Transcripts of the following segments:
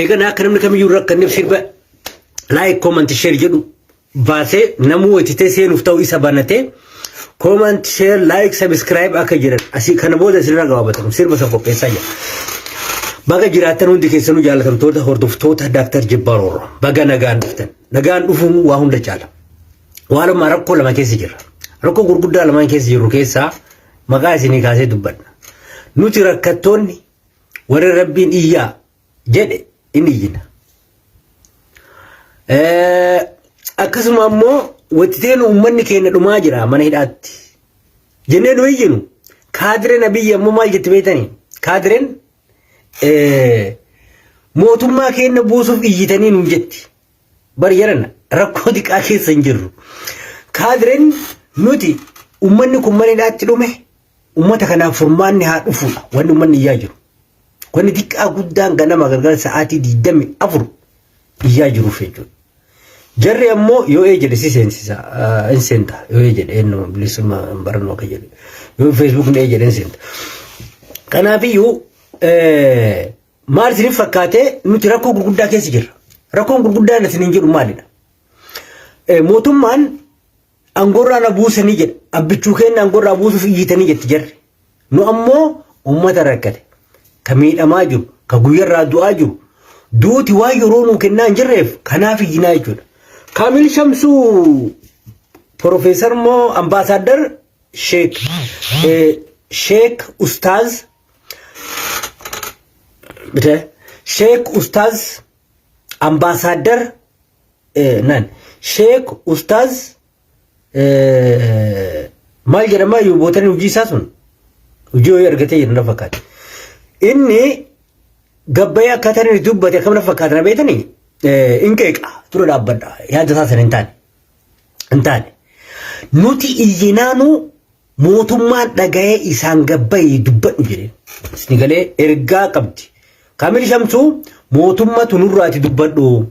Eegan akka namni kamiyyuu rakkanneef sirba laayik koomanti sheer jedhu baasee namuu hojjetee seenuuf ta'u isa banatee koomanti sheer laayik sabiskiraayib akka jedhan asii kana booda isinirra gabaabatamu sirba san qopheessaa jira. Baga jiraattan hundi keessanuu jaalatamtoota hordoftoota Daaktar Jibbaar Orro baga nagaan dhuftan nagaan dhufuun waa hunda caala. Waanuma rakkoo lama keessa jirra. Rakkoo gurguddaa lamaan keessa jirru keessaa maqaa isinii kaasee dubbadha. Nuti rakkattoonni warri rabbiin iyyaa jedhe in iyyina. Eh, Akkasuma ammoo wattitee nu uummanni keenya dhumaa jira mana hidhaatti. Jennee nu iyyinu kaadireen abiyyi ammoo maal jetti beektanii? Kaadireen eh, mootummaa keenya buusuuf iyyitanii nuun jetti. Bar jarana rakkoo diqaa keessa hin jirru. Kaadiren nuti ummanni kun manidhaatti dhume ummata kanaaf furmaanni haa dhufuudha wanni ummanni iyyaa jiru. Wanni diqqaa guddaan ganama galgala sa'aatii 24 iyyaa jiruuf jechuudha. Jarri ammoo yoo ee jedhe si seensisa hin seenta yoo ee jedhe eenyuma bilisumma hin barannoo akka jedhe yoo feesbuukni ee jedhe hin seenta. Kanaafiyyuu Maal isiniif fakkaatee nuti rakkoo gurguddaa keessa jirra. Rakkoon gurguddaa inni isiniin jedhu maalidha? Mootummaan angoorraa na buusanii jedha. Abbichuu keenya angoorraa buusuuf iyyitanii jetti jarri. Nu ammoo uummata rakkate. Ka miidhamaa jiru, ka guyyarraa du'aa jiru. Duuti waan yeroo nuu kennaa hin jirreef kanaaf iyyinaa jechuudha. Kaamil Shamsuu Profeesar moo ambaasaaddar Sheek Sheek Ustaaz Sheek Ustaaz Ambaasaaddar nan Sheek Ustaaz maal jedhama yuubootani hojii isaa sun hojii hojii argatee jiru na fakkaata. Inni gabbayee akkaataa inni dubbate akkam na fakkaata na beekani in qeeqa dura dhaabbadha yaada isaa sana hin taane. Hin taane. Nuti iyyinaanuu mootummaan dhaga'ee isaan gabbayii dubbadhu jedhe. Isni galee ergaa qabdi. Kamil Shamsuu mootummatu nurraati dubbadhu.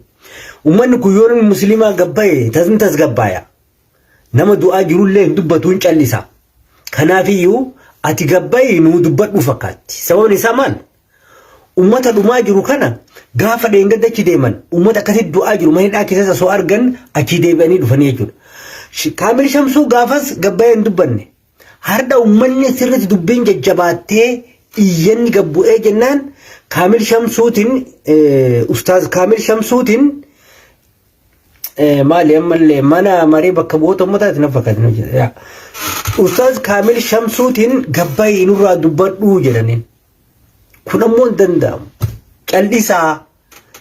Uummanni kun yoo namni musliimaa gabbaye tasni tasgabbaaya. Nama du'aa jirullee hin dubbatu hin callisa. Kanaafiyyuu ati gabbayii nuu dubbadhu fakkaatti. Sababni isaa maal? Uummata dhumaa jiru kana gaafa dheengadda achi deeman uummata akkasii du'aa jiru mana hidhaa keessatti osoo argan achii deebi'anii dhufanii jechuudha. Sh- Kaamil Shamsuu gaafas gabbayee hin dubbanne. Har'a uummanni sirriitti dubbiin jajjabaattee iyyanni gad bu'ee jennaan Kaamil Shamsuutiin eh, Ustaaz Kaamil Shamsuutiin eh, maali ammallee mana marii bakka bu'oota uummataati na fakkaatan hojjeta. Yaa. Ustaaz Kaamil Shamsuutiin gabbayee nurraa dubbadhuu jedhaniin. Kun ammoo hin danda'amu. Callisaa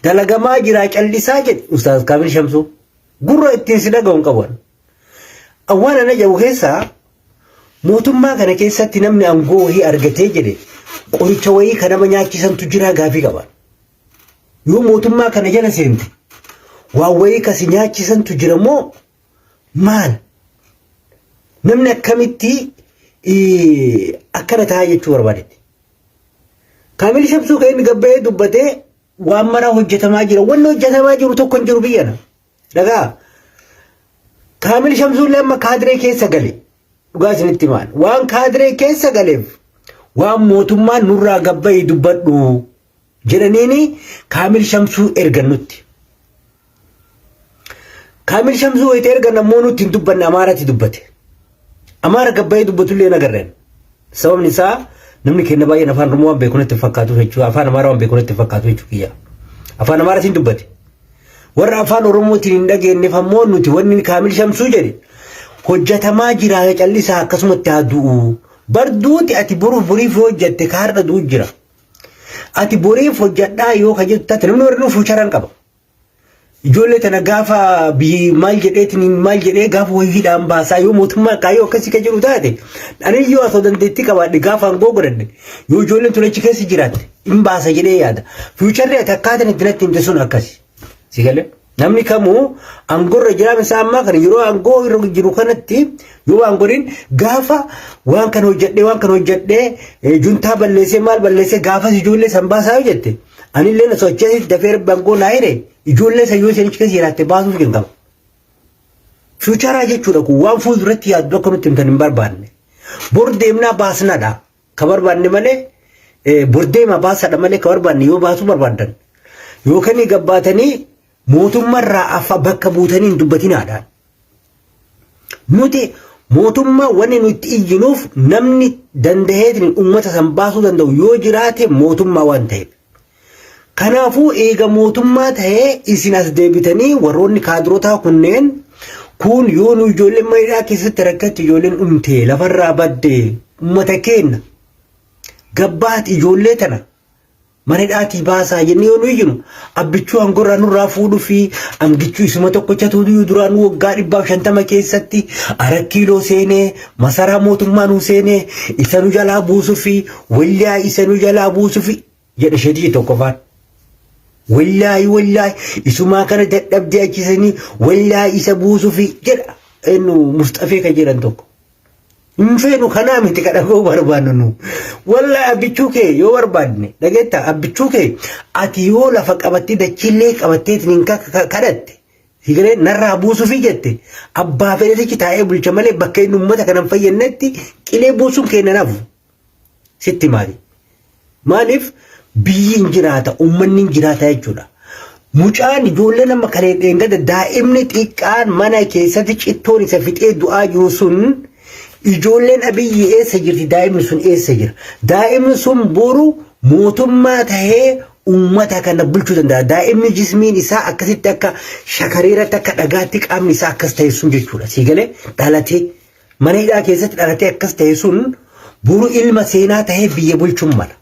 dalagamaa jiraa callisaa jedhe Ustaaz Kaamil Shamsuu. Gurra ittiin si dhaga'u hin qaban. Waan ana jedhu keessaa mootummaa kana keessatti namni aangoo wayii argatee jedhe qoricha wayii kan nama nyaachisantu jiraa gaafii qaba. Yoo mootummaa kana jala seente waan wayii kasi nyaachisantu jira moo Maal? Namni akkamitti akkana ta'a jechuu barbaadetti. Kaamil Shamsuu kan inni gabbayee dubbatee waan maraa hojjetamaa jira. Wanni hojjetamaa jiru tokko hin jiru biyyana. Dhagaa. Kaamil Shamsuu illee amma kaadiree keessa gale. Dhugaa isinitti maal? Waan kaadiree keessa galeef waan mootummaan nurraa gabbayee dubbadhu jedhaniini Kaamil Shamsuu ergan nutti. Kaamil Shamsuu wayita ergan ammoo nutti hin dubbanne Amaaraatti dubbate. Amaara gabbayee dubbatullee hin agarreen. Sababni isaa namni keenya baay'een afaan Oromoo waan beeku natti hin fakkaatu jechuudha. Afaan Amaaraa waan beeku natti hin fakkaatu jechuu kiyya. Afaan Amaaraatiin dubbate. Warra afaan Oromootiin hin dhageenyeef ammoo nuti wanni Kaamil Shamsuu jedhe hojjetamaa jira callisaa akkasumatti haa du'u. Bar duuti ati boruuf boriif yoo hojjette ka har'a du'u jira. Ati boriif hojjadhaa yoo ka jettu taate namni warri fuucharan qaba. Ijoollee tana gaafa biyyi maal jedheetiin maal jedhee gaafa wayiidhaan baasaa yoo mootummaa kaayyoo akkasii ka jiru taate anis yoo asoo dandeettii qabaadhe gaafa aangoo godhadhe yoo ijoolleen tun achi keessa jiraatte hin baasa jedhee yaada. Fuucharri ati akkaataan itti natti himte sun akkasi. Si galee? Namni kamuu aangorra jiraam isaa ammaa kana yeroo aangoo irra jiru kanatti yoo waan godhin gaafa waan kan hojjedhee waan kan hojjedhee juntaa balleessee maal balleessee gaafas ijoollee san baasaa yoo jette anillee na socheessiif dafee rabbi aangoo naa hire ijoollee san yoo isinichi keessa jiraatte baasuuf hin qabu. Fiicharaa jechuudha kun waan fuulduratti yaaddu akka nutti himtan hin barbaanne. Bor deemnaa baasnadha. Ka barbaanne malee bordeema baasadha malee ka barbaanne yoo baasuu barbaaddan yookaan gabbaatanii mootummarraa affa bakka buutanii hin dubbatinaadha. Nuti mootummaa wanni nuti iyyinuuf namni danda'eetiin uummata san baasuu danda'u yoo jiraate mootummaa waan ta'eef. Kanaafuu eega mootummaa ta'ee isin as deebitanii warroonni kaadirotaa kunneen kun yoo nu ijoolleen maneedhaa keessatti rakkatti ijoolleen dhumte lafarraa badde uummata keenna gabbaat ijoollee tana maneedhaatii baasaa jennee yoo nu iyyinu abbichuu hangorraa nurraa fuudhuu fi amgichuu isuma tokkochatu iyyuu duraan waggaa dhibbaaf shantama keessatti arakkiiloo seenee masaraa mootummaa nu seenee isa nu jalaa buusuu fi Wallaahi isa nu jalaa buusufi jedha shedii tokkofaan. Wallaahi wallaahi isumaa kana dadhabdee achisanii wallaahi isa buusufi jedha eenyu musxafee kan jedhan tokko. Hin feenu kanaa miti kan dhaga'uu barbaannu nu. Wallaahi abbichuu kee yoo barbaadne dhageetta abbichuu kee ati yoo lafa qabattee dachiillee qabattee ittiin kadhatte Higaree narraa buusufi jette abbaa fedhatichi taa'ee bulcha malee bakka inni uummata kanan fayyadnetti qilee buusuun keenya nafu Sitti maali? Maaliif biyyi hin jiraata, uummanni hin jiraata jechuudha. Mucaan ijoolleen amma kan eeggada daa'imni xiqqaan mana keessatti cittoon isa fixee du'aa jiru sun ijoolleen abiyyi eessa jirti daa'imni sun eessa jira. Daa'imni sun boru mootummaa tahee uummata kana bulchuu danda'a. Daa'imni jismiin isaa akkasitti akka shakareeratti akka dhagaatti qaamni isaa akkas ta'e sun jechuudha. Sii galee dhalatee. Mana hidhaa keessatti dhalatee akkas ta'e sun boru ilma seenaa ta'ee biyya bulchuun mala.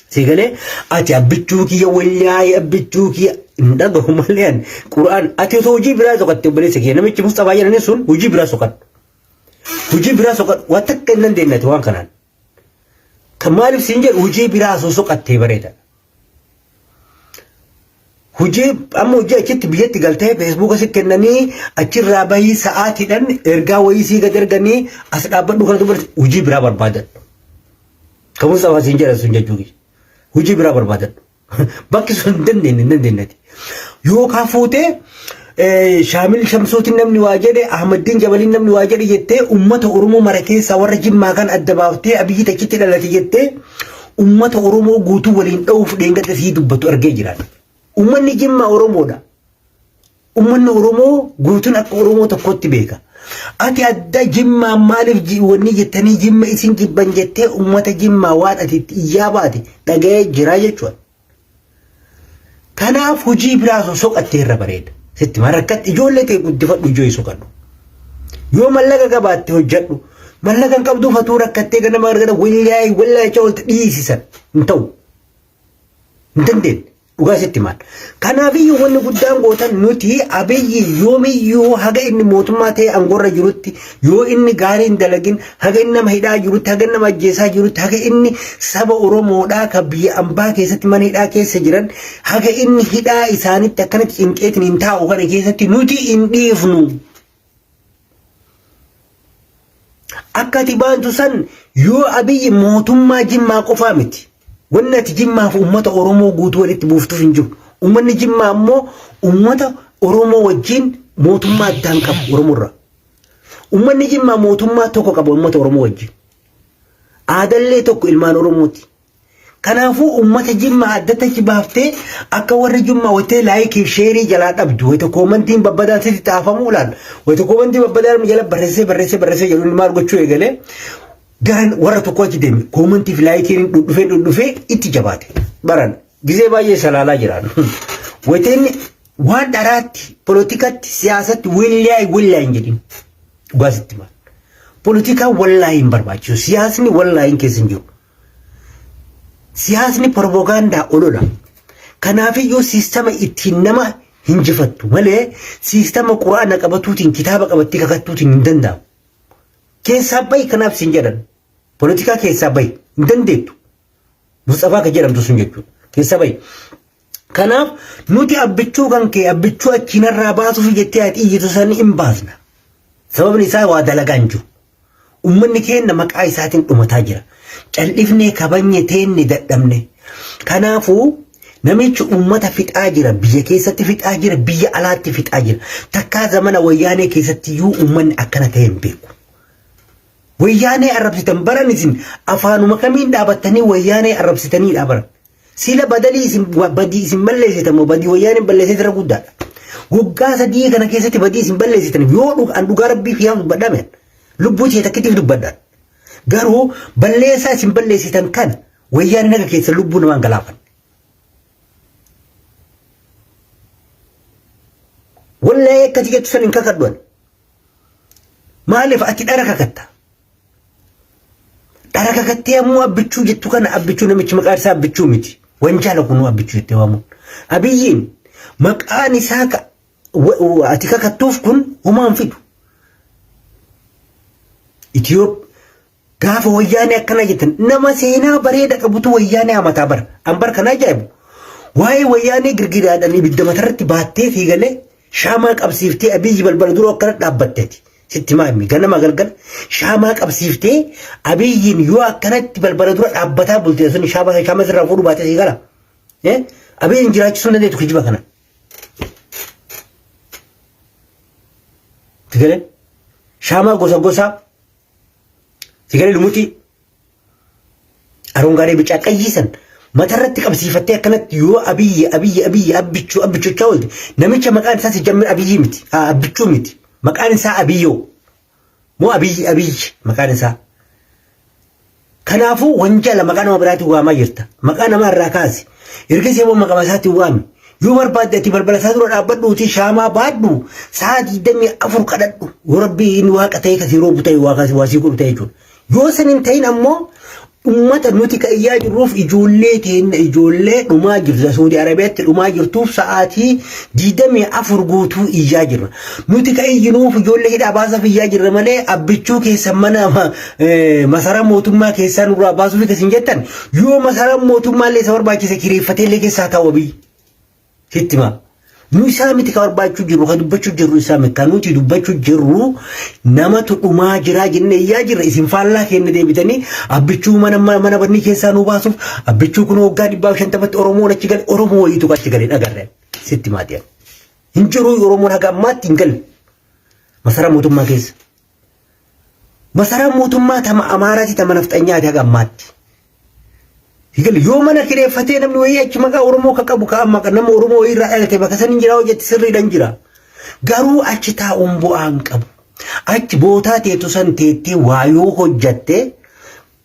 Sigalee ati abbichuu kiyya wayyaa'ee abbichuu kiyya hin dhagahu malee ani quraan ati osoo hojii biraa soqatte obboleessa kiyya namichi Musxafaa jedhanii sun hojii biraa soqadhu. Hojii biraa soqadhu waan takka hin dandeenyati waan kanaan. Kan maaliif siin jedhu hojii biraa osoo soqattee bareeda. Hojii amma hojii achitti biyyatti galtee feesbuuka si kennanii achirraa bahii sa'aatiidhaan ergaa wayii sii gad erganii as dhaabbadhu kana dubarti hojii biraa barbaadadhu. Kamuus afaan siin jedhan sun jechuudha. Hojii biraa barbaadadhu. Bakki sun hin dandeenye hin dandeenyati. Yookaan fuutee Shaamil Shamsuutiin namni waa jedhe Ahmaddiin Jabaliin namni waa jedhe jettee uummata Oromoo mara keessaa warra Jimmaa kan adda baaftee Abiyyi tachitti dhalate jettee uummata Oromoo guutuu waliin dha'uuf dheengadda sii dubbatu argee jiraata. Uummanni Jimmaa Oromoodha. Ummanni Oromoo guutuun akka Oromoo tokkotti beeka. Ati adda jimmaa maaliif ji- wanni jettanii jimma isin jibban jettee ummata jimmaa waan ati itti iyyaa baate dhaga'ee jiraa jechuudha. Kanaaf hojii biraa osoo soqattee irra bareeda. Sitti maa rakkatti ijoollee ta'e guddifadhu ijoo hin soqadhu. Yoo mallaqa qabaatte hojjedhu. Mallaqa hin qabdu fatuu rakkattee ganama argata wallaahi wallaahi jecha walitti dhiisisan hin ta'u. Hin dandeenye. Dhugaa sitti maal. Kanaafiyyuu wanni guddaan gootan nuti abiyyi yoomiyyuu haga inni mootummaa ta'e angorra jirutti yoo inni gaarii hin dalagin haga inni nama hidhaa jirutti haga inni nama ajjeesaa jirutti haga inni saba Oromoodhaa ka biyya ambaa keessatti mana hidhaa keessa jiran haga inni hidhaa isaanitti akkanatti cinqeetiin hin taa'u kana keessatti nuti hin dhiifnu. Akka ati baantu san yoo abiyyi mootummaa jimmaa qofaa miti. Wanni ati jimmaaf uummata Oromoo guutuu walitti buuftuuf hin jiru. Uummanni jimmaa ammoo uummata Oromoo wajjin mootummaa addaan qabu Oromorraa. Uummanni jimmaa mootummaa tokko qaba uummata Oromoo wajjin. Aadallee tokko ilmaan Oromooti. Kanaafuu ummata jimmaa addatti achi baaftee akka warri jimmaa wattee laayikiif sheerii jalaa dhabdu wayita koomantiin babbadaan sitti xaafamu laal wayita koomantii babbadaan inni jala barreessee barreessee barreessee jedhu inni maal gochuu eegalee garan warra tokko achi deeme koomantiif laayikiin dhudhufee dhudhufee itti jabaate baran gizee baay'ee salaalaa jiraan wayita inni waan dharaatti polotikatti siyaasatti willaay willaay hin jedhin dhugaa sitti maal polotikaan wallaahi hin barbaachisu siyaasni wallaahi hin keessa hin jiru. Siyaasni propagaandaa olola. Kanaafiyyuu siistama ittiin nama hinjifattu malee siistama quraana qabatuutiin kitaaba qabattee kakattuutiin hin danda'amu. Keessaa bahi kanaaf sin jedhan. Politikaa keessaa bahi hin dandeettu. Musxafaa kan jedhamtu sun jechuudha. Keessaa bahi. Kanaaf nuti abbichuu kan kee abbichuu achi narraa baasuuf jettee ati iyyitu san hin baasna. Sababni isaa waa dalagaa hin jiru. Uummanni keenya maqaa isaatiin dhumataa jira. Cal'ifnee kabajne teenne dadhabne. Kanaafuu namichi uummata fixaa jira. Biyya keessatti fixaa jira. Biyya alaatti fixaa jira. Takkaa zamana wayyaanee keessatti iyyuu uummanni akkana ta'e hin beeku. Wayyaanee arrabsitan baran isin afaanuma kamiin dhaabattanii wayyaanee arrabsitanii dhaabaran. Sila badalii isin badii isin balleessitan moo badii wayyaaneen balleessee irra guddaadha. Waggaa sadii kana keessatti badii isin balleessitan yoo dhugaan dhugaa rabbii kiyyaa dubbadhame lubbuu tiyya takkittiif dubbadha. Garuu balleessaa isin balleessitan kan wayyaaneen akka keessa lubbuu namaan galaafan. Wallee akkati jettu san hin kakadhuan. Maaliif ati dhara kakatta? Dhara kakattee ammoo abbichuu jettu kana abbichuu namichi maqaan isaa abbichuu miti. Wanjaala kunuu abbichuu jettee waamuun. Abiyyiin maqaan isaa ka- wa- wa- ati kakattuuf kun homaan fidu. Itiyoop gaafa wayyaanee akkana jettan nama seenaa bareeda qabutu wayyaanee hamataa bara. An bara kana ajaa'ibu. Waa'ee wayyaanee girgidaadhaan ibidda matarratti baattee fiigalee shaamaa qabsiiftee abiyyi balbala dura akkana dhaabbatteeti. Sitti himaa himmi ganama galgala shaamaa qabsiiftee abiyyiin yoo akkanatti balbala dura dhaabbataa bultee sun shaamaa shaamaa sirraa fuudhu baatee sii gala. Abiyyiin jiraachisuu dandeetu kijiba kana. Sigalee shaamaa gosa gosaa sigalee lumuxii Arongaadee bicaa qayyii san matarratti qabsiifattee akkanatti yoo abiyyi abiyyi abiyyi abbichuu abbichuchaa oolte namicha maqaan isaa si jammir abiyyi miti haa abbichuu miti maqaan isaa abiyyoo moo abiyyi abiyyi maqaan isaa. Kanaafuu wanjala maqaa nama biraatiin waamaa jirta maqaa namaa irraa kaasi ergasii immoo maqaa isaatiin waami yoo barbaadde ati balbala isaa dura dhaabbadhuuti shaamaa baadhu sa'a digdamii afur kadhadhu yoo rabbii inni waaqa ta'e kasii roobu ta'e waaqaa waasii godhu ta'e jechuudha. Yoo san hin ta'in ammoo ummata nuti ka iyyaa jirruuf ijoollee teenna ijoollee dhumaa jirta Suudi Arabiyaatti dhumaa jirtuuf sa'aatii diidamii afur guutuu iyyaa jirra. Nuti ka iyyinuuf ijoollee hidhaa baasaf iyyaa jirra malee abbichuu keessan mana masaraa mootummaa keessaa nurraa baasuuf isin jettan yoo masaraa mootummaa illee isa barbaachise kireeffatee illee keessaa ta'u abii. Sitti himaa. Nu isaa miti ka barbaachuu jirru ka dubbachuu jirru isaa miti kan nuti dubbachuu jirru namatu dhumaa jiraa jennee iyyaa jirra isin faallaa keenya deebitanii abbichuu mana mana bannii keessaa nu baasuuf abbichuu kun waggaa dhibbaaf shantamatti Oromoon achi gale Oromoo wayiitu achi gale dhagarre sitti maatii hin jiruu Oromoon haga ammaatti hin galle masaraa mootummaa keessa Masaraan mootummaa tama Amaaraati tama nafxanyaati haga ammaatti. Higal yoo mana kireeffatee namni wayii achi maqaa Oromoo ka qabu ka amma nama Oromoo wayii irraa dhalate bakka san hin jira hojjetti sirriidhan jira. Garuu achi taa'uun bu'aa hin qabu. Achi bootaa teetu san teettee waa yoo hojjatte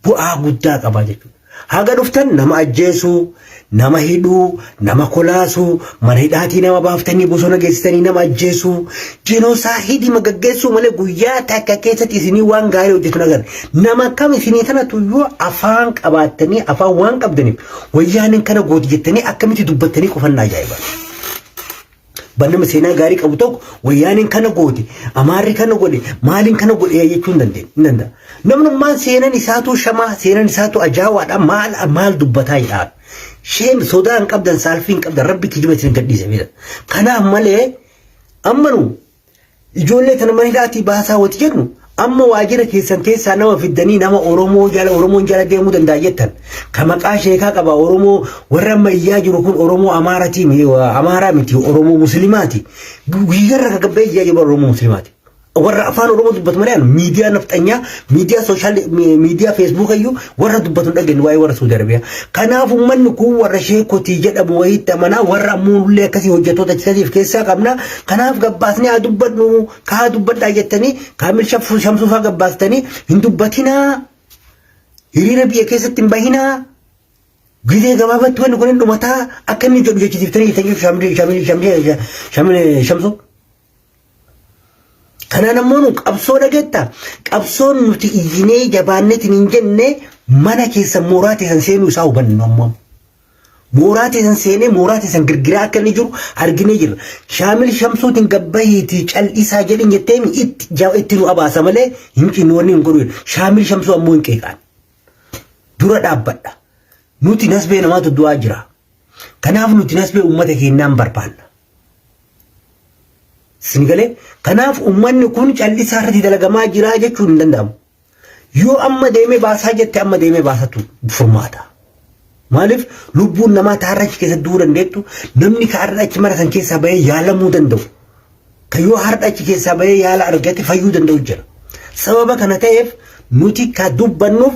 bu'aa guddaa qaba jechuudha. Haga dhuftan nama ajjeesuu, nama hidhuu, nama kolaasuu, mana hidhaatii nama baaftanii bosona geessitanii nama ajjeesuu, jinoosaa hidhima gaggeessuu malee guyyaa takka keessatti isinii waan gaarii hojjetu hin agarre. Nama kam isinii kanatu yoo afaan qabaattanii afaan waan qabdaniif wayyaaniin kana gooti jettanii akkamitti dubbattanii qufannaa ajaa'iba. Abbaan nama seenaa gaarii qabu tokko wayyaaneen kana goote, amaarri kana godhe, maaliin kana godhe jechuu hin dandeenye. Hin danda'a. Namnummaan seenan isaatuu shamaa, seenan isaatuu ajaawaadha. Maal maal dubbataa jedhaaf. Sheen sodaa hin qabdan, saalfii hin qabdan. Rabbi kijiba isin gadhiise beela. Kanaaf malee amma nu Ijoollee tana mana hidhaatii baasaa wati jedhu amma waajjira keessan keessaa nama fiddanii nama Oromoo jala Oromoon jala deemuu danda'a jettan ka maqaa sheekaa qaba Oromoo warra amma iyyaa jiru kun Oromoo Amaaratii mi- Amaaraa miti Oromoo Muslimaati guyyarra ka gabbee iyyaa jiru Oromoo Muslimaati warra afaan Oromoo dubbatu malee miidiyaa nafxanyaa Miidiyaa sooshaal miidiyaa feesbuuka iyyuu warra dubbatu hin dhageenye waa'ee warra Suudi Arabiyaa. Kanaaf uummanni kun warra sheekotii jedhamu wayiitti amanaa warra muullee akkasii hojjettoota citatiif keessaa qabna. Kanaaf gabbaasni haa dubbadhu ka haa dubbadhaa jettanii kaamil shaffuu shamsuufaa gabbaastanii hin dubbatinaa. Hiriira biyya keessatti hin bahinaa. Gizee gabaabatti wanni kun hin dhumataa akka inni jedhu jechisiiftanii jettanii shamsuu. Kanaan ammoo nu qabsoo dhageetta. Qabsoon nuti iyyinee jabaannetiin hin jenne mana keessan mooraa teessan seenuu isaa hubanne nu ammoo. Mooraa teessan seenee mooraa teessan girgiraa akka inni jiru arginee jirra. Shaamil Shamsuutiin gabbahiitii cal'isaa jedhin jetteen itti ja- itti nu abaasa malee hin cinnu wanni hin godhu. jedhu. Shaamil Shamsuu ammoo hin qeeqaan. Dura dhaabbadha. Nuti nasbee namaatu du'aa jira. Kanaaf nuti nasbee uummata keenyaan barbaanna. Isin galee kanaaf uummanni kun callisaa irratti dalagamaa jira jechuun hin danda'amu. Yoo amma deemee baasaa jette amma deemee baasatu furmaata. Maaliif lubbuun namaa taarra achi keessa du'uu dandeettu namni kaarra achi mara kan keessaa bahee yaalamuu danda'u. Ka yoo hardha achi keessaa bahee yaala argate fayyuu danda'u jira. Sababa kana ta'eef nuti ka dubbannuuf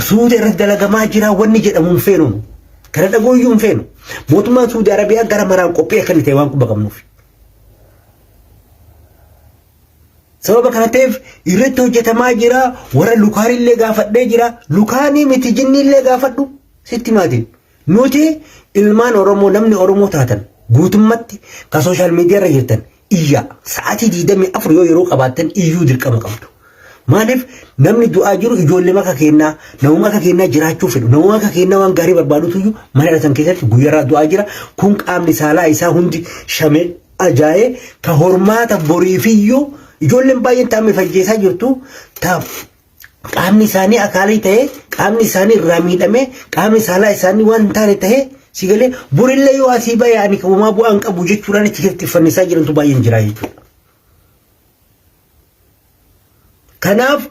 suuta irratti dalagamaa jira wanni jedhamu hin feenu. Kana dhagooyyuu hin feenu. Mootummaan Suudi Arabiyaa gara maraan qophii akka inni ta'e waan quba qabnuuf. Sababa kana ta'eef irratti hojjetamaa jira warra lukaanillee gaafadhee jira lukaanii miti jinniillee gaafadhu sitti maatiin. Nuti ilmaan Oromoo namni Oromoo taatan guutummatti ka social media irra jirtan iyyaa sa'aatii 24 yoo yeroo qabaattan iyyuu dirqama qabdu. Maaliif namni du'aa jiru ijoollee maka keennaa namuma akka keennaa jiraachuu fedhu namuma akka keennaa waan gaarii barbaadutu iyyuu mana dhatan keessatti guyyarraa du'aa jira kun qaamni saalaa isaa hundi shamee ajaa'ee ka hormaata boriifiyyuu ijoolleen baay'een taa'ame fajjeessaa jirtu taaf qaamni isaanii akaalii ta'ee qaamni isaanii irraa miidhamee qaamni saalaa isaanii waan hin taane ta'ee si galee burillee yoo asii ba'e ani kabumaa bu'aan qabu jechuudhaan achi keessatti fannisaa jirantu baay'een jira jechuudha. Kanaaf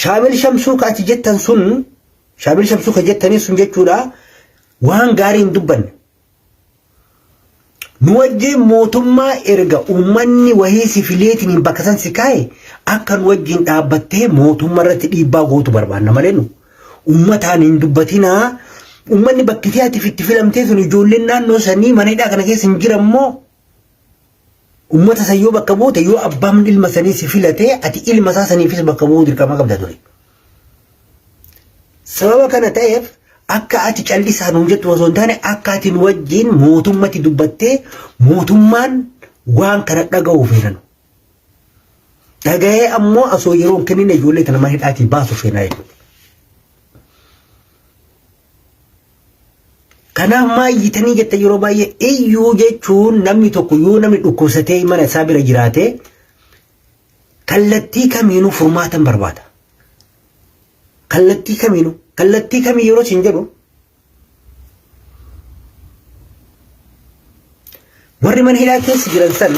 shaamil shamsuu ka achi jettan sun shaamil shamsuu ka jettanii sun jechuudha waan gaarii hin dubbanne Nu wajjiin mootummaa erga uummanni wahii si fileetiin bakka san si kaa'e akka nu wajjiin dhaabbattee mootummaa irratti dhiibbaa gootu barbaanna malee nu uummataan hin dubbatinaa uummanni bakki ati itti filamtee sun ijoolleen naannoo sanii mana hidhaa kana keessa hin jiran moo Ummata san yoo bakka buute yoo abbaan ilma sanii si filatee ati ilma isaa saniifis bakka bu'uu dirqama qabda ture. Sababa kana ta'eef akka ati callisaa nuun jettu osoo hin taane akka ati nu wajjin mootummatti dubbattee mootummaan waan kana dhaga'uu feenan. Dhaga'ee ammoo osoo yeroo hin kennine ijoollee tana mana hidhaatii baasu feenaa jechuudha. Kanaaf maa iyyitanii jette yeroo baay'ee iyyuu jechuun namni tokko yoo namni dhukkubsatee mana isaa bira jiraate kallattii kamiinuu furmaatan barbaada. Kallattii kamiinuu kallattii kamii yeroo siin jedhu warri mana hidhaa keessa jiran san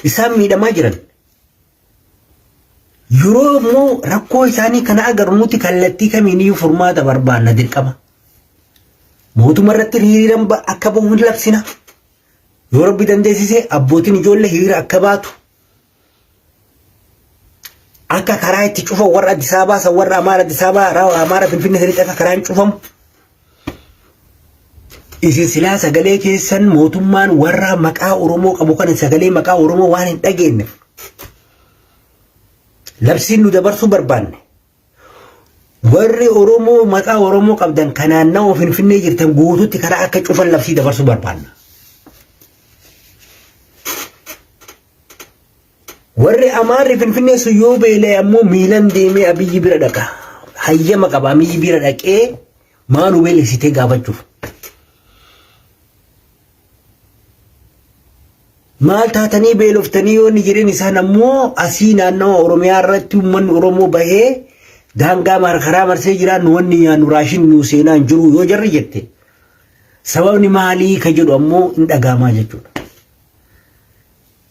isaan miidhamaa jiran Yoo immoo rakkoo isaanii kana agarru nuti kallattii kamiiniyyuu furmaata barbaanna dirqama. Mootummaa irratti hiriiran akka bahu hin labsina. Yoo rabbi dandeessise abbootiin ijoollee hiriira akka baatu. Akka karaa itti cufan warra Addis Ababaa san warra Amaara Addis Ababaa Amaara Finfinnee sanitti akka karaan cufamu. Isin silaa sagalee keessan mootummaan warra maqaa Oromoo qabu kana sagalee maqaa Oromoo waan hin dhageenyeef labsiin nu dabarsuu barbaanne. Warri Oromoo maqaa Oromoo qabdan kan naannawaa Finfinnee jirtan guutuutti karaa akka cufan labsii dabarsuu barbaanna. Warri Amaarri Finfinnee sun yoo beela'e ammoo miilan deemee Abiyyi bira dhaqa. Hayyama qaba Abiyyi bira dhaqee maal nu beelesitee gaafachuuf. Maal taatanii beeloftanii yoo inni jedheen isaan ammoo asii naannawa Oromiyaa irratti uummanni Oromoo bahee daangaa markaraa marsee jira nu wanni nyaannu raashin nu seenaa hin jiru yoo jarri jette. Sababni maalii ka jedhu ammoo hin dhagaamaa jechuudha.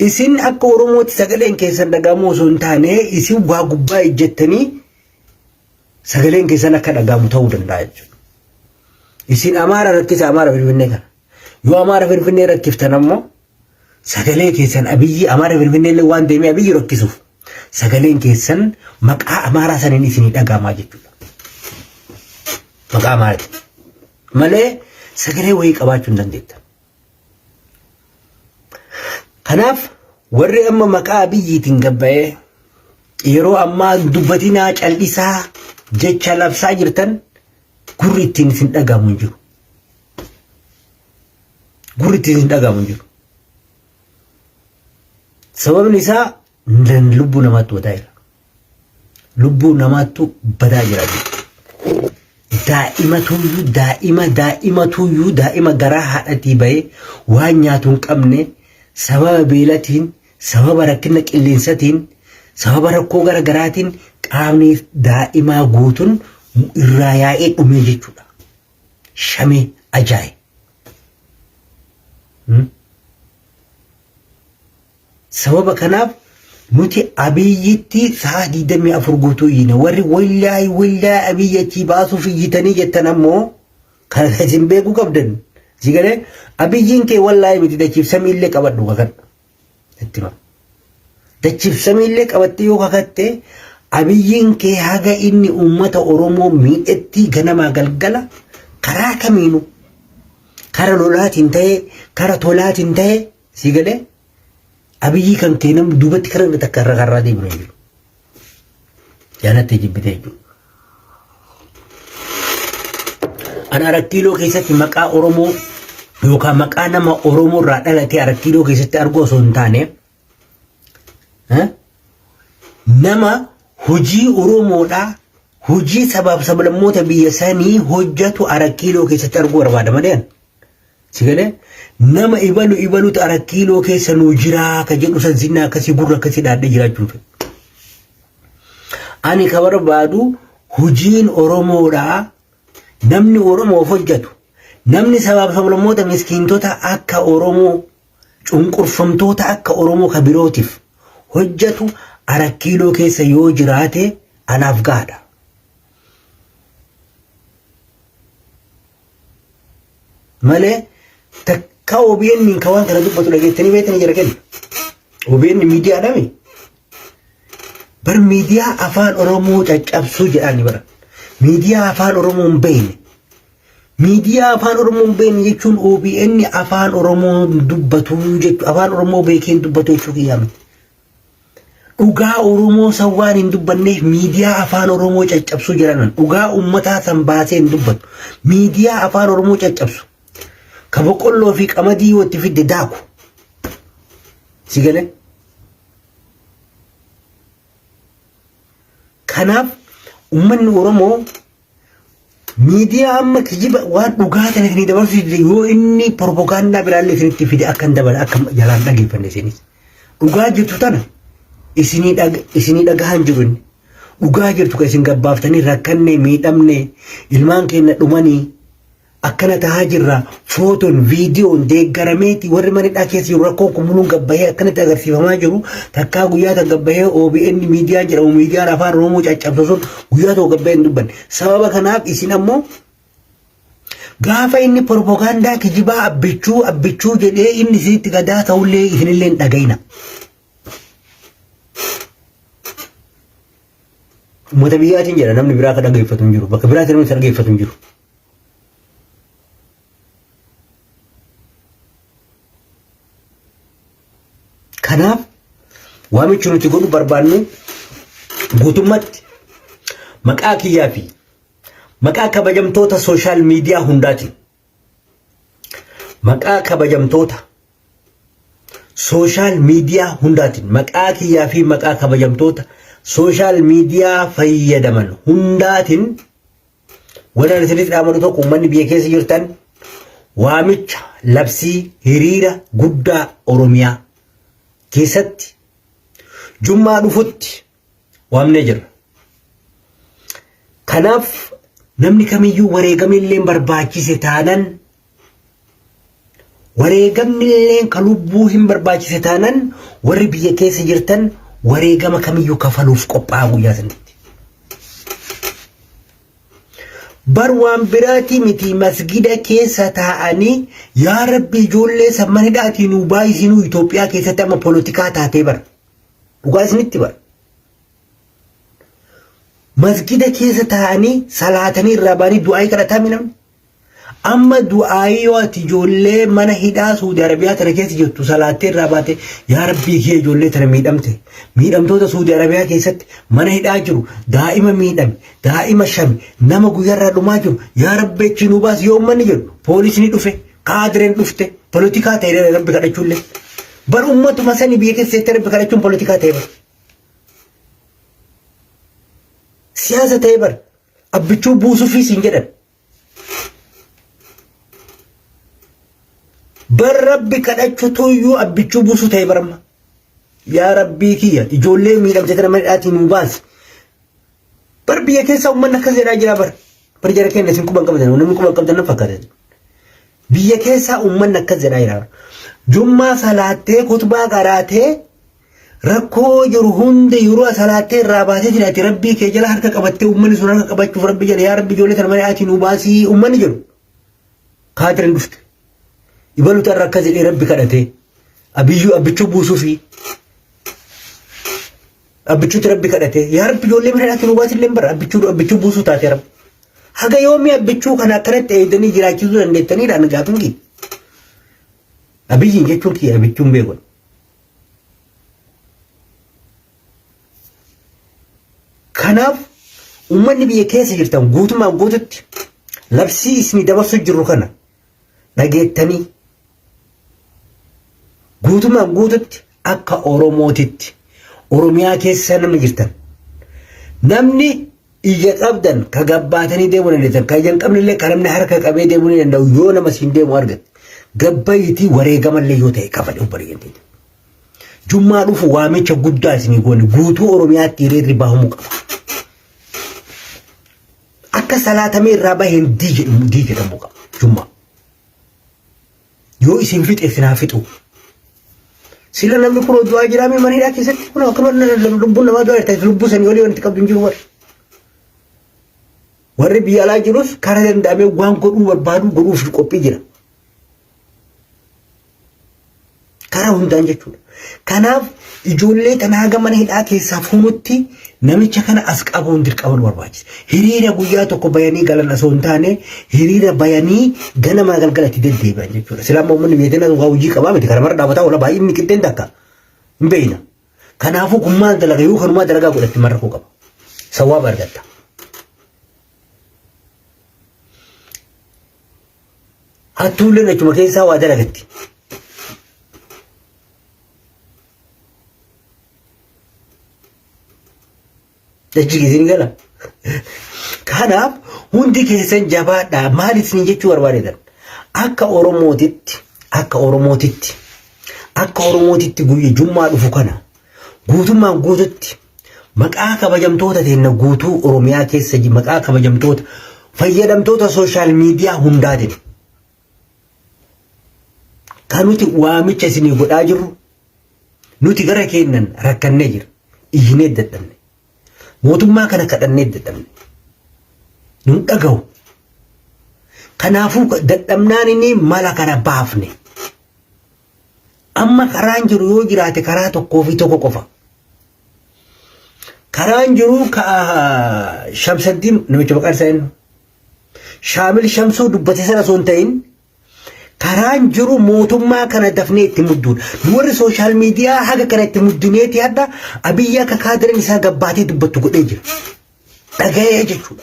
Isin akka Oromootti sagaleen keessan dhaga'amuu osoo hin taane isin waa gubbaa ejjettanii sagaleen keessan akka dhaga'amu ta'uu danda'a jechuudha. Isin Amaara rakkisa Amaara Finfinnee kana. Yoo Amaara Finfinnee rakkiftan ammoo sagalee keessan Abiyyi Amaara Finfinnee illee waan deemee Abiyyi rakkisuuf sagaleen keessan maqaa Amaaraa saniin isinii dhaga'amaa jechuudha. Maqaa Amaaraatiin. Malee sagalee wayii qabaachuu hin dandeettan. Kanaaf warri amma maqaa biyyiitiin gabbayee yeroo ammaa dubbatinaa cal'isaa jecha labsaa jirtan gurri ittiin isin dhagahamu hin jiru. Gurri ittiin isin dhagahamu hin jiru. Sababni isaa Nan lubbuu namaattu badaa jira. Lubbuu namaattu badaa jira. Daa'ima tuyyuu daa'ima daa'ima tuyyuu daa'ima garaa haadhatii bahee waan nyaatu hin qabne sababa beelatiin sababa rakkina qilleensatiin sababa rakkoo gara garaatiin qaamni daa'imaa guutuun irraa yaa'ee dhumee jechuudha. Shamee ajaa'i. Sababa kanaaf nuti Abiyyitti sa'a 24 guutuu iyyina. Warri wallaay wallaay Abiyyi achii baasuuf iyyitanii jettan ammoo kan isin beekuu qabdan. Si galee Abiyyiin kee wallaay miti dachiif samiillee qabadhu kakadhu. Itti hima. Dachiif samiillee qabattee yoo kakatte Abiyyiin kee haga inni uummata Oromoo miidhetti ganamaa galgala karaa kamiinuu kara lolaatiin ta'ee kara tolaatiin ta'ee Sii galee abiyyii kan kee namni duubatti karaa inni takka irra karraa deemnu hin jiru. Jaalattee jibbitee jechuudha. Ani arakkiiloo keessatti maqaa Oromoo yookaan maqaa nama Oromoo irraa dhalatee arakkiiloo keessatti arguu osoo hin taane eh, nama hojii Oromoodhaa hojii sabaaf sablammoota biyya sanii hojjetu arakkiiloo keessatti arguu barbaada malee. Si galee nama ibalu ibalutu arat kiiloo keessa nuu jiraa ka jedhu san sinna akkasii gurra akkasii dhaadhee jiraachuu hin fedhu. Ani ka barbaadu hojiin Oromoodhaa namni Oromoof hojjetu namni sabaaf sablammoota miskiintota akka Oromoo cunqurfamtoota akka Oromoo ka birootiif hojjetu arat kiiloo keessa yoo jiraate anaaf gaadha. Malee takka OBN ka waan kana dubbatu dhageettanii beektanii jira kenna. OBN miidiyaa dhami. Bar miidiyaa afaan Oromoo caccabsuu jedhaani bara. Miidiyaa afaan Oromoo hin beekne. Miidiyaa afaan Oromoo hin beekne jechuun OBN afaan Oromoo dubbatuu jechuudha. Afaan Oromoo beekee hin dubbatu jechuu kiyyaa miti. Dhugaa Oromoo san waan hin dubbanneef miidiyaa afaan Oromoo caccabsuu jiranan dhugaa ummataa san baasee hin dubbatu. Miidiyaa afaan Oromoo caccabsu. Ka boqqolloo fi qamadii yoo itti fidde daaku. Si galee? Kanaaf ummanni Oromoo Miidiyaa amma kijiba waan dhugaa ta'e isinii dabarsuu dide yoo inni propagaandaa biraallee isinitti fide akka hin dabale akka jalaan dhageeffanne isinis. Dhugaa jirtu tana isinii dhag- isinii dhagahan jiru inni. Dhugaa jirtu kan isin gabbaaftanii rakkannee miidhamnee ilmaan keenya dhumanii akkana tahaa jirra footoon viidiyoon deeggarameeti warri mana hidhaa keessa jiru rakkoon kun muluun gabbahee akkanatti agarsiifamaa jiru takkaa guyyaa tan gabbahee OBN miidiyaa jedhamu miidiyaan afaan Oromoo caccabsu sun guyyaa tokko gabbahee hin dubbanne sababa kanaaf isin ammoo gaafa inni propagaandaa kijibaa abbichuu abbichuu jedhee inni isinitti gadaa ta'ullee isinillee hin dhaga'ina. Uummata biyyaatiin jedha namni biraa akka dhaggeeffatu hin jiru bakka biraatiin namni isa dhaggeeffatu hin jiru. Kanaaf waamichi nuti godhu barbaannu guutummaatti maqaa kiyyaa fi maqaa kabajamtoota sooshaal miidiyaa hundaatiin maqaa kabajamtoota sooshaal miidiyaa hundaatiin maqaa kiyyaa fi maqaa kabajamtoota sooshaal miidiyaa fayyadaman hundaatiin Wanni ani isinitti dhaamadu tokko uummanni biyya keessa jirtan waamicha labsii hiriira guddaa Oromiyaa keessatti jummaa dhufutti waamnee jirra. Kanaaf namni kamiyyuu wareegamillee barbaachise taanan Wareegamnilleen ka lubbuu hin barbaachise taanan warri biyya keessa jirtan wareegama kamiyyuu kafaluuf qophaa'a guyyaa sanitti. Bar waan biraatii miti masgida keessa taa'anii yaa rabbi ijoollee san mana hidhaatii nuu baay'isinuu Itoophiyaa keessatti amma polotikaa taatee bar. Dhugaa isinitti bar. Masgida keessa taa'anii salaatanii irraa ba'anii du'aa'ii kadhataa mi namni? Amma du'aayii yoo ati ijoollee mana hidhaa Suudi Arabiyaa tana keessa jirtu salaattee irraa baate yaa rabbii kiyya ijoollee tana miidhamte miidhamtoota Suudi Arabiyaa keessatti mana hidhaa jiru daa'ima miidhame daa'ima shame nama guyyarraa dhumaa jiru yaa rabbi achi nu baas yoo ummanni jedhu poolisni dhufe kaadireen dhufte polotikaa ta'e rabbi kadhachuullee bar ummatuma sani biyya keessa jettee rabbi kadhachuun polotikaa ta'e bar siyaasa ta'e bar Abbichuu buusufii siin jedhan. Bar rabbi kadhachutu iyyuu abbichuu buusuu ta'e baramma. Yaa rabbii kiyya ijoollee miidhamte tana mana hidhaatii nuu baasi. Bar biyya keessaa uummanni akkas jedhaa jira bar. Bar jara keenya isin quban qabdan namni quban qabdan nan fakkaatan. Biyya keessaa uummanni akkas jedhaa jira. Jummaa salaattee kutbaa qaraatee Rakkoo jiru hunda yeroo asalaattee irraa baatee jira ati rabbii kee jala harka qabattee uummanni sun harka qabachuuf rabbi jedhe yaa rabbi ijoollee tana malee ati nuu baasii uummanni jedhu. Kaadirin dhufte. Ibalu tarra akkas jedhee rabbi kadhatee. Abiyyuu abbichuu buusuufi. Abbichuutti rabbi kadhatee yaa rabbi ijoollee mana ati nuu baasii illee bara abbichuu abbichuu buusuu taatee rabbi. Haga yoomii abbichuu kana akkanatti eegdanii jiraachisuu dandeettaniidhaan gaafin kiyya. Abiyyiin jechuun kiyya abbichuun beekudha. Kanaaf uummanni biyya keessa jirtan guutumaan guututti labsii isinii dabarsuu jirru kana dhageettanii guutumaan guututti akka Oromootitti Oromiyaa keessa namni jirtan namni Ija qabdan ka gabbaatanii deemuu dandeettan ka ija hin qabnellee ka namni harka qabee deemuu ni danda'u yoo nama siin deemu argatte gabbayitii wareegamallee yoo ta'e kafali obboleeyyan teenya. Jummaa dhufu waamicha guddaa isinii goone guutuu Oromiyaatti hiriirri bahamuu qaba. Akka salaatamee irraa baheen dii jedhamu dii jedhamu qaba jummaa. Yoo isin fixe isin haa fixu. Sila namni kun hojii waa jiraamee mana hidhaa keessatti kun akkuma lubbuun namaa du'aa jirtan lubbuu sanii olii wanti qabdu hin jiru warri. Warri biyya alaa jirus karaa danda'amee waan godhuu barbaadu godhuuf qophii jira. Karaa hundaan jechuudha. Kanaaf ijoollee tana haga mana hidhaa keessaa fuunutti namicha kana as qabuun dirqama nu barbaachisa. Hiriira guyyaa tokko bayanii galan osoo hin taane hiriira bayanii ganamaa galgala itti deddeebi'an jechuudha. Sila amma uummanni biyya teenna waa hojii qabaa miti karamarra dhaabataa oola baay'inni qixxeen takka hin beekna. Kanaafuu kun maal dalaga yoo kanumaa dalagaa godhatti marra koo qaba. Sawaaba argatta. Hattuulleen achuma keessaa waa dalagatti. Dachi isin gala. Kanaaf hundi keessan jabaadhaa maal isin jechuu barbaadetan akka Oromootitti akka Oromootitti akka Oromootitti guyya jummaa dhufu kana guutummaan guututti Maqaa kabajamtoota teenna guutuu Oromiyaa keessa ji- maqaa kabajamtoota fayyadamtoota sooshaal miidiyaa hundaatiin kan nuti waamicha isinii godhaa jirru nuti gara keennan rakkannee jira. Iyyinee dadhabne. Mootummaa kana kadhannee dadhabne. Nun dhagahu. Kanaafuu dadhabnaan inni mala kana baafne. Amma karaan jiru yoo jiraate karaa tokkoo fi tokko qofa. Karaan jiru Shamsaddiin namicha maqaan isaa eenyu? Shaamil Shamsuu dubbate sana osoo hin ta'in karaan jiru mootummaa kana dafnee itti mudduudha. Warri sooshaal miidiyaa haga kana itti muddineeti hadha abiyyi akka kaadirin isaa gabbaatee dubbattu godhee jira. Dhaga'ee jechuudha.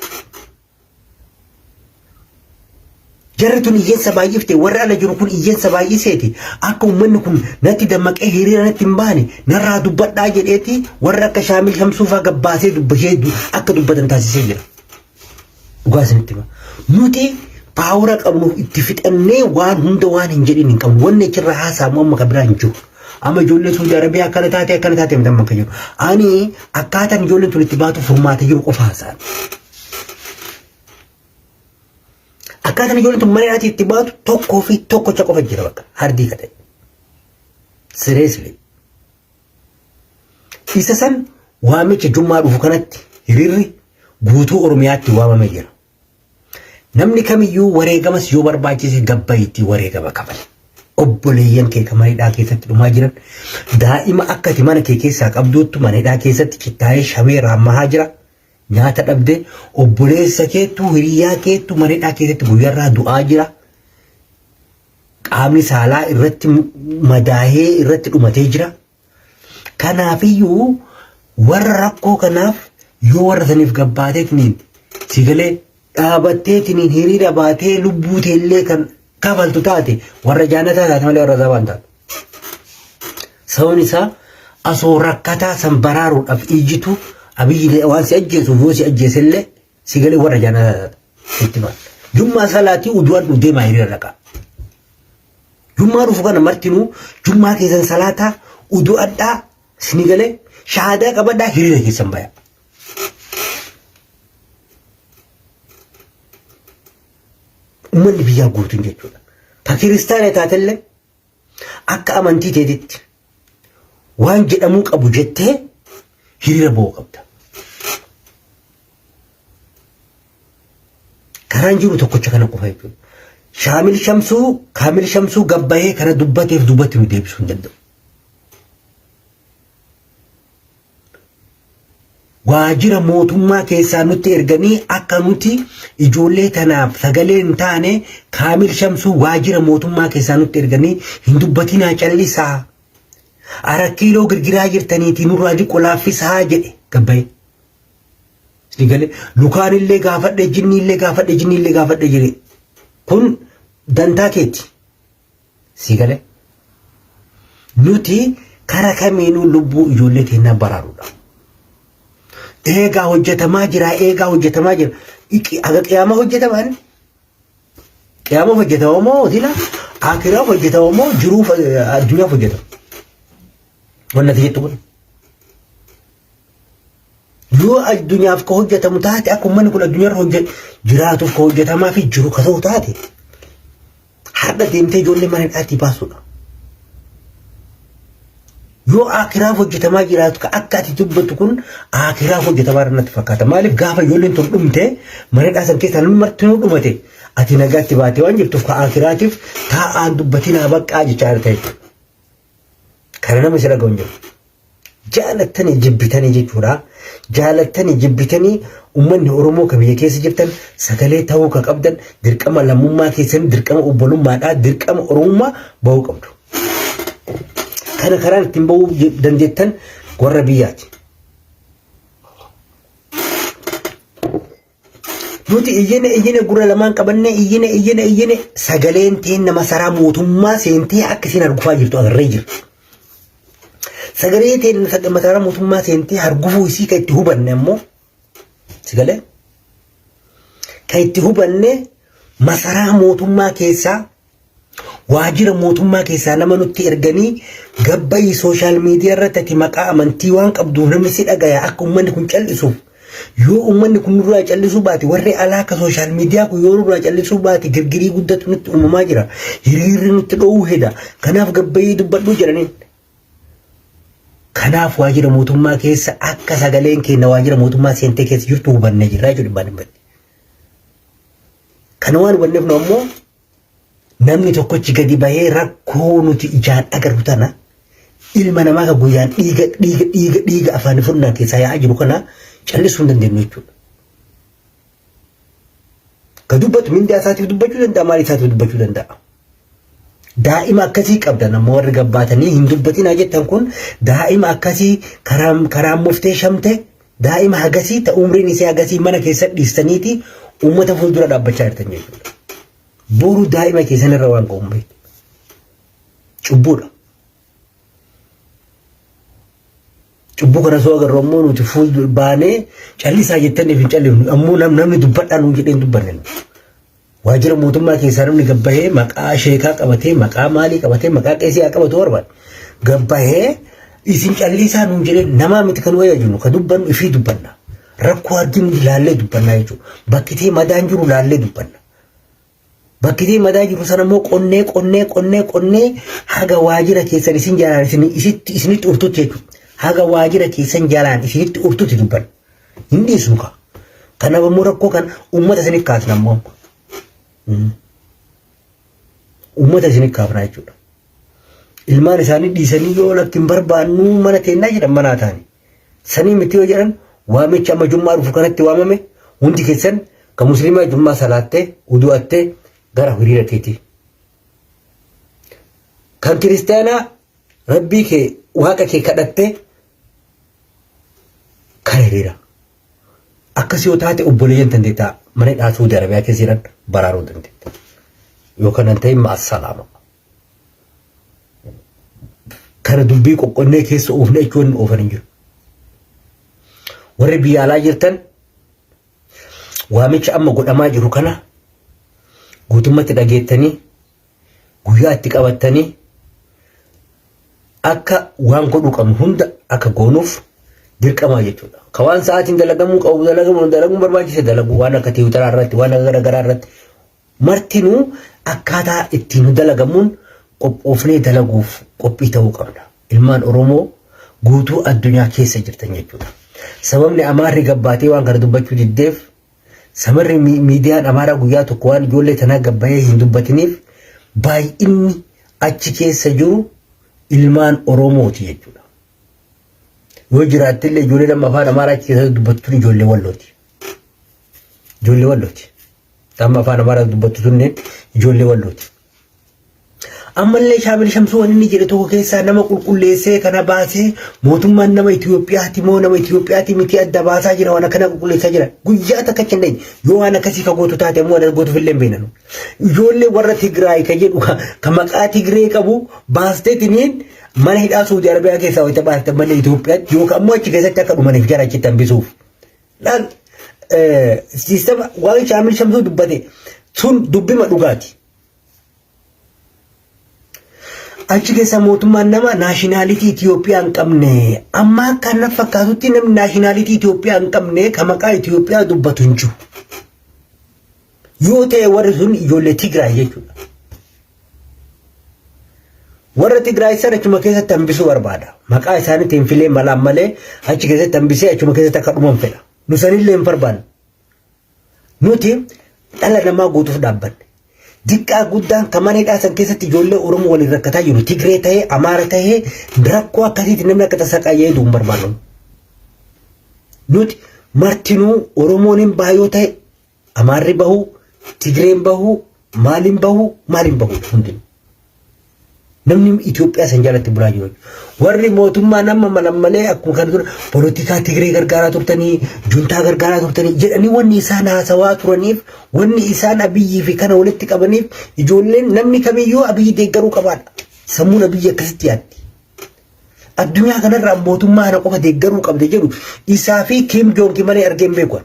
Jarri tun iyyensa baay'ifte warri ala jiru kun iyyensa baay'iseeti akka uummanni kun natti dammaqee hiriira natti hin baane narraa dubbadhaa jedheeti warra akka shaamil shamsuufaa gabbaasee dubbashee du- akka dubbatan taasisee jira. Dhugaa isinitti hima. Nuti paawura qabnu itti fixannee waan hunda waan hin jedhin hin qabnu. Wanni achirraa haasa'amu amma kan biraa hin jiru. Amma ijoollee Suudi Arabiyaa akkana taate akkana taate miidhamma akka jiru. Ani akkaataan ijoolleen tun itti baatu furmaata jiru qofa haasa'an. Akkaataan ijoolleen tun mana hidhaatii itti baatu tokkoo fi tokkocha qofa jira bakka hardii kata'e. Sireesli. Isa san waamicha jummaa dhufu kanatti hiriirri guutuu Oromiyaatti waamamee jira. Namni kamiyyuu wareegamas yoo barbaachise gabbayitti wareegama kafale. Obboleeyyan kee kan mana hidhaa keessatti dhumaa jiran daa'ima akkati mana kee keessaa qabduuttu mana hidhaa keessatti cittaa'ee shamee raammahaa jira. Nyaata dhabde obboleessa keettu hiriyaa keettu manidhaa keessatti guyyarraa du'aa jira. Qaamni saalaa irratti madaahee irratti dhumatee jira. Kanaafiyyuu warra rakkoo kanaaf yoo warra saniif gabbaateetiniin si galee dhaabatteetiniin hiriira baatee lubbuu teellee kan kafaltu taate warra jaannataa taate malee warra azabaa hin taatu. Sababni isaa asoo rakkataa san baraaruudhaaf iyyitu abiyyi waan si ajjeesuuf yoo si ajjeesellee si galee warra jaannataa taata. Itti maal. Jummaa salaatii uduwaan dhuu deemaa hiriira dhaqaa. Jummaa dhufu kana martinuu jummaa keessan salaataa udu'adhaa sini galee shahaadaa qabadhaa hiriira keessan bayaa. Uummanni biyyaa guutuun jechuudha. Ta kiristaana taatellee akka amantii teetitti waan jedhamuu qabu jettee hiriira ba'uu qabda. Karaan jiru tokkocha kana qofa jechuudha. Shaamil Shamsuu, Kaamil Shamsuu gabbahee kana dubbateef dubbatti nu deebisuu hin danda'u. waajira mootummaa keessaa nutti erganii akka nuti ijoollee tanaaf sagalee hin taane Kaamil Shamsuu waajira mootummaa keessaa nutti erganii hin dubbatinaa callisaa arakkiiloo girgiraa jirtaniitii nurraa diqqo laaffisaa jedhe gabbayee. Sigalee lukaan illee gaafadhe jinni illee gaafadhe jinni illee gaafadhe jedhe kun dantaa keeti Sii galee? Nuti kara kamiinuu lubbuu ijoollee teennaa baraaruudha. Eegaa hojjetamaa jira, eegaa hojjetamaa jira. Iqi- Aga qiyaamaa hojjetaman, qiyaama hojjetama moo sila akiraa hojjetama moo jiruu addunyaa hojjetama. Wanna ati jettu kun. Yoo addunyaaf ka hojjetamu taate akka uummanni kun addunyaarra hojjet jiraatuuf ka hojjetamaa fi jiru ka ta'u taate har'a deemtee ijoollee mana hidhaatii baasuudha. Yoo akiraaf hojjetamaa jiraatu ka akka ati dubbattu kun akiraaf hojjetamaa irra natti fakkaata. Maaliif gaafa ijoolleen tun dhumte mana hidhaa san keessaa namni martinuu dhumate ati nagaatti baatee waan jirtuuf ka akiraatiif taa'aan dubbatiin haa baqqaa jechaa ta'e. Kana nama si dhaga'u hin jiru. Jaalattanii jibbitanii jechuudha. Jaalattanii jibbitanii uummanni Oromoo ka biyya keessa jirtan sagalee ta'uu ka qabdan dirqama lammummaa keessanii dirqama obbolummaadhaa dirqama Oromummaa ba'uu qabdu. Kana karaan ittiin ba'uu dandeettan warra biyyaati. Nuti iyyine iyyine gurra lamaan qabannee iyyine iyyine iyyine sagaleen teenna masaraa mootummaa seentee akka isin argufaa jirtu agarree jirra. Sagalee teenna sag- masaraa mootummaa seentee argufuu isii kan itti hubanne ammoo sagalee kan itti hubanne masaraa mootummaa keessaa Waajjira mootummaa keessaa nama nutti erganii gabbayii sooshaal miidiyaa irratti ati maqaa amantii waan qabduuf namni si dhagaya akka uummanni kun cal'isuuf. Yoo uummanni kun nurraa cal'isuu baate warri alaa akka sooshaal miidiyaa kun yoo nurraa cal'isuu baate girgirii guddatu nutti uumamaa jira. Hiriirri nutti dho'uu heda. Kanaaf gabbayii dubbadhuu jedhaniin. Kanaaf waajjira mootummaa keessa akka sagaleen keenya waajjira mootummaa seentee keessa jirtu hubannee jirra jechuudha dhibbaan dhibbatti. Kana waan hubanneef nu ammoo Namni tokkochi gadi bahee rakkoo nuti ijaan agarru tana ilma namaa kan guyyaan dhiiga dhiiga dhiiga dhiiga afaan funnaan keessaa yaa'aa jiru kana callisuu hin dandeenyu jechuudha. Ka dubbatu mindaa isaatiif dubbachuu danda'a maal isaatiif dubbachuu danda'a. Daa'ima akkasii qabdan ammoo warri gabbaatanii hin dubbatinaa jettan kun daa'ima akkasii karaa karaa muftee shamte Daa'ima hagasii ta umriin isii hagasii mana keessa dhiistaniiti uummata fuuldura dhaabbachaa jirtan jechuudha. Boru daa'ima keessan irra waan ga'u hin beektu. Cubbuudha. Cubbuu kana soo agarru ammoo nuti fuuldura baanee callisaa jettaniif hin callifnu ammoo nam- namni dubbadhaa nuun jedhee hin dubbanne. Waajjira mootummaa keessaa namni gad bahee maqaa sheekaa qabatee maqaa maalii qabatee maqaa qeesii haa qabatu barbaade. Gad bahee isin calliisaa nuun jedhee namaa miti kan wayyaa jennu kan dubbannu ifii dubbanna. Rakkoo arginu ilaallee dubbannaa jechuudha. Bakkitee madaan jiru ilaallee dubbanna. Bakkitee madaa jiru sana immoo qonnee qonnee qonnee qonnee haga waajjira keessan isin jalaan isinitti urtutti jechuudha. Haga waajjira keessan jalaan isinitti urtutti dubbanna. Hin dhiisnu kaa. Kanaaf ammoo rakkoo kan uummata isinif kaasna ammoo amma. Mm. Uummata isinif kaafna jechuudha. Ilmaan isaanii dhiisanii yoo lakki hin barbaannu mana teennaa jedhan manaa taani. Sanii miti yoo jedhan waamicha amma jummaa dhufu kanatti waamame hundi keessan ka musliimaa jummaa salaattee udu'attee gara hiriira teetii. Kan kiristaanaa Rabbii kee waaqa kee kadhattee kan hiriira. Akkas yoo taate obboleeyyan tan deettaa mana hidhaa Suudi Arabiyaa keessa jiran baraaruu dandeetta. Yoo kana hin ta'in maasalaama. Kana dubbii qoqqonnee keessa oofne jechuun inni oofan hin jiru. Warri biyya alaa jirtan waamicha amma godhamaa jiru kana guutummatti dhageettanii guyyaa itti qabattanii akka waan godhuu qabnu hunda akka goonuuf dirqamaa jechuudha. Ka waan sa'aatiin dalagamuu qabu dalagamuu dalaguun barbaachise dalagu waan akka tiwutaraa irratti waan akka garaagaraa irratti martinuu akkaataa ittiin dalagamuun qophoofnee dalaguuf qophii ta'uu qabna. Ilmaan Oromoo guutuu addunyaa keessa jirtan jechuudha. Sababni Amaarri gabbaatee waan kana dubbachuu diddeef Samarri mi- miidiyaan Amaaraa guyyaa tokko waan ijoollee tanaa gabbayee hin dubbatiniif baay'inni achi keessa jiru ilmaan Oromooti jechuudha. Yoo jiraatte illee ijoollee nama afaan Amaaraa achi keessa dubbattu ijoollee wallooti. Ijoollee wallooti. Amma afaan Amaaraa dubbattu tunneen ijoollee wallooti. Ammallee Shaamil Shamsuu waan inni jedhe tokko keessaa nama qulqulleessee kana baasee mootummaan nama Itoophiyaati moo nama Itoophiyaati miti adda baasaa jira waan akkana qulqulleessaa jira. Guyyaa takka hin dandeenye yoo waan akkasii ka gootu taate ammoo waan gootuuf illee hin beeknu. Ijoollee warra Tigraay ka jedhu ka ka maqaa Tigree qabu baasteetiniin mana hidhaa Suudi Arabiyaa keessaa wayita baaste malee Itoophiyaatti yookaan ammoo achi keessatti akka dhumaniif jara achitti hambisuuf. Laal siistama waan shaamil shamsuu dubbate sun dubbima dhugaati. Achi keessa mootummaan nama naashinaalitii Itoophiyaa hin qabne amma akka na fakkaatutti namni naashinaalitii Itoophiyaa hin qabne kan maqaa Itoophiyaa dubbatu hin jiru. Yoo ta'e warri sun ijoollee Tigraay jechuudha. Warra Tigraay sana achuma keessatti hambisuu barbaada. Maqaa isaaniitti hin filee malaan malee achi keessatti hambisee achuma keessatti akka dhuman fedha. Nu sanillee hin barbaanne. Nuti dhala namaa guutuuf dhaabbanne. Diqqaa guddaan kan mana hidhaa san keessatti ijoollee Oromoo waliin rakkataa jiru. Tigree ta'ee, Amaara ta'ee rakkoo akkasiitti namni akka tasaa qayyee jedhu hin barbaannu. Nuti martinuu Oromoon hin baay'oo ta'e Amaarri bahuu, Tigreen bahuu, maaliin bahuu, maaliin bahuu hundinuu. Namni Itoophiyaa san jalatti bulaa jiru. Warri mootummaa nama malammalee akkuma kana ture polotikaa Tigree gargaaraa turtanii, juntaa gargaaraa turtanii jedhanii wanni isaan haasawaa turaniif, wanni isaan abiyyii fi kana walitti qabaniif ijoolleen namni kamiyyuu abiyyi deeggaruu qabaadha. Sammuun abiyyi akkasitti yaaddi. Addunyaa kanarraa mootummaa kana qofa deeggaruu qabda jedhu isaa fi Kiim Joongi malee argee hin beeku.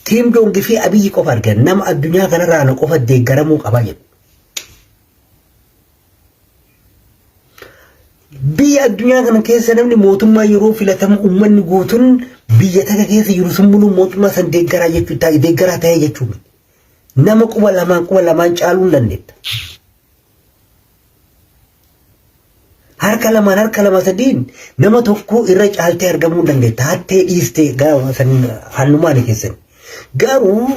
Kiim Joongi fi Abiyyi qofa arge nama addunyaa kanarraa na qofa deeggaramuu qaba jedhu. Biyya addunyaa kana keessa namni mootummaa yeroo filatamu uummanni guutuun biyya takka keessa jiru sun muluu mootummaa san deeggaraa jechuu taa'e deeggaraa ta'ee jechuudha. Nama quba lamaan quba lamaan caaluu hin dandeetta. harka lamaan harka lama sadiin nama tokkoo irra caaltee argamuu hin dandeetta hattee dhiistee gaafa san hannumaan keessan garuu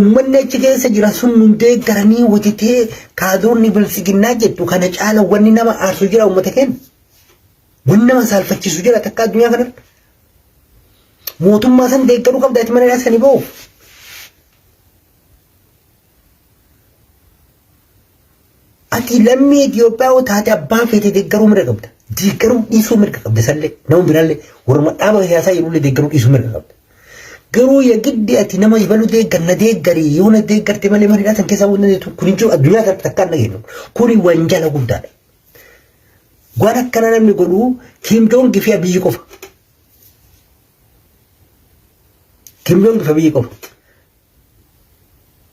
ummanni achi keessa jira sun hundee garanii wutitee kaadoonni bilsiginnaa jettu kana caala wanni nama aarsu jira ummata keenya wanni nama saalfachiisu jira takka addunyaa kanarra mootummaa san deeggaruu qabda ati mana dhaasanii ba'uuf Ati lammii Itoophiyaa yoo taate abbaa feete deeggaruu mirga qabda. Deeggaruu dhiisuu mirga qabda sallee. Nama biraallee warra dhaaba siyaasaa jedhullee deeggaruu dhiisuu mirga qabda. Garuu yagiddi ati nama ibalu deeggar na deeggari yoo na deeggarte malee mana hidhaa san keessaa waan dandeettu kun hin jiru addunyaa kanatti takkaa hin dhageenyu. Kuni wanjala guddaadha. Waan akkana namni godhu Kim Jong fi Abiyyi qofa. Kim Jong fi Abiyyi qofa.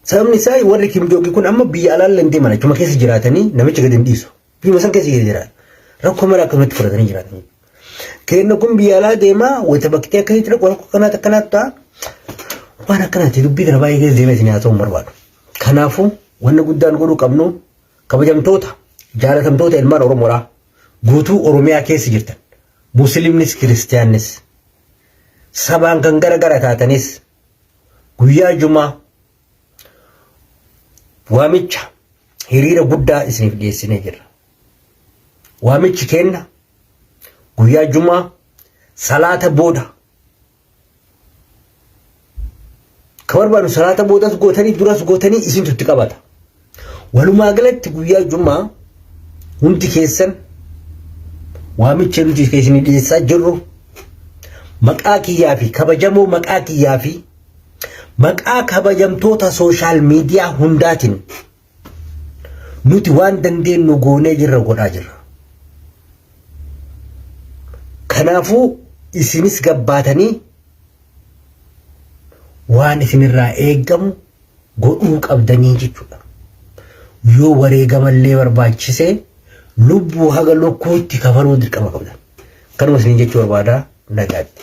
Sababni isaa warri Kim Jong kun amma biyya alaallee hin deeman achuma keessa jiraatanii namicha gadi hin dhiisu. Biyya san keessa jiraatu. Rakkoo mara akkanumatti fudhatanii jiraatanii. Kenna kun biyya alaa deemaa wayita bakkee akka hin rakkoo rakkoo kanaatti akkanaatti ta'a. Waan akkanaatti dubbii kana baay'ee keessa deemee isin haa ta'u barbaadu. Kanaafuu wanna guddaan godhuu qabnu kabajamtoota jaalatamtoota ilmaan Oromoodhaa guutuu Oromiyaa keessa jirtan musliimnis kiristiyaannis sabaan kan gara gara taatanis guyyaa jumaa waamicha hiriira guddaa isiniif dhiyeessinee jirra. Waamichi keenna guyyaa jumaa salaata booda ka barbaadu salaata boodas gootanii duras gootanii isintu itti qabata. Walumaa galatti guyyaa Jummaa hundi keessan waamicha nuti keessanii dhiyeessaa jirru maqaa kiyyaa fi kabajamoo maqaa kiyyaa fi maqaa kabajamtoota sooshaal miidiyaa hundaatiin nuti waan dandeenyu goonee jirra godhaa jirra. Kanaafuu isinis gabbaatanii waan isinirraa eegamu godhuu qabdanii jechuudha. Yoo wareegamallee barbaachise lubbuu haga lukkuutti kafaluu dirqama qabdan. Kanuma isiniin jechuu barbaada nagaatti.